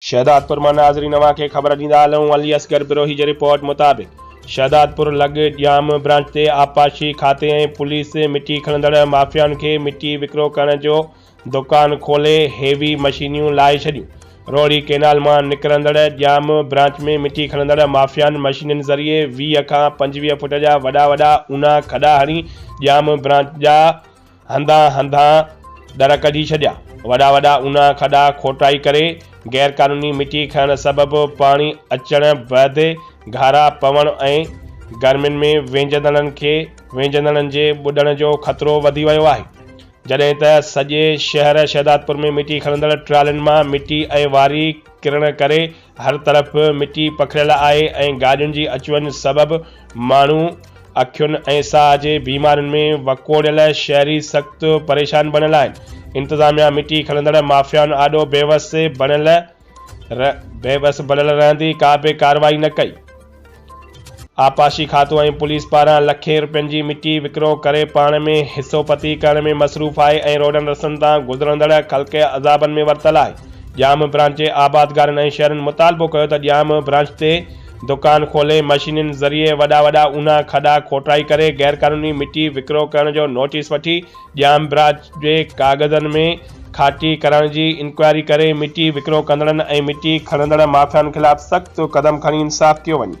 شهدادپور مان ناظرين اوهان کي خبر ڏيندا هلون علي اصغر بروهي جي رپورٽ مطابق شهدادپور لڳ ڄام برانچ تي آبپاشي کاتي ۽ پوليس مٽي کڻندڙ مافيائن کي مٽي وڪرو ڪرڻ جو دوڪان کولي هيوي مشينيون لاهي ڇڏيون روهڙي ڪئنال مان نڪرندڙ ڄام برانچ ۾ مٽي کڻندڙ مافيائن مشينين ذريعي ويهه کان پنجويهه فٽ جا وڏا وڏا اونها کڏا هڻي ڄام برانچ جا هنڌان هنڌان در ڪڍي ڇڏيا، وڏا وڏا اونها کڏا کوٽائي ڪري، غير قانوني مٽي کڻڻ سبب پاڻي اچڻ بعدي گهارا پوڻ ۽ گرمين ۾ وينجهندڙن کي وينجهندڙن جي ٻڏڻ جو خطرو وڌي ويو آهي، جڏهن ته سڄي شهر شهدادپور ۾ مٽي کڻندڙ ٽرالين مان مٽي ۽ واري ڪرڻ ڪري هر طرف مٽي پکڙيل آهي ۽ گاڏين جي اچ وڃ سبب ماڻهو اکين ۽ ساهه جي بيمارين ۾ وڪوڙيل شهري سخت پريشان بڻيل آهن، انتظاميا مٽي کڻندڙ مافيائن آڏو بيوس بڻيل رهندي ڪابه ڪارروائي نه ڪئي. آبپاشي کاتو ۽ پوليس پاران لکين رپين جي مٽي وڪرو ڪري پاڻ ۾ حصو پتي ڪرڻ ۾ مصروف آهي ۽ روڊن رستن تان گذرندڙ خلق عذابن ۾ ورتل آهي ڄام برانچ آبادگارن ۽ شهرين مطالبو ڪيو ته ڄام برانچ تي دڪان کولي مشينين ذريعي وڏا وڏا اونا کڏا کوٽائي ڪري غيرقانوني مٽي وڪرو ڪرڻ جو نوٽيس وٺي ڄام براچ جي ڪاغذن ۾ کاٽي ڪرڻ جي انڪوائري ڪري مٽي وڪرو ڪندڙن ۽ مٽي کڻندڙ مافيائن خلاف سخت قدم کڻي انصاف ڪيو وڃي.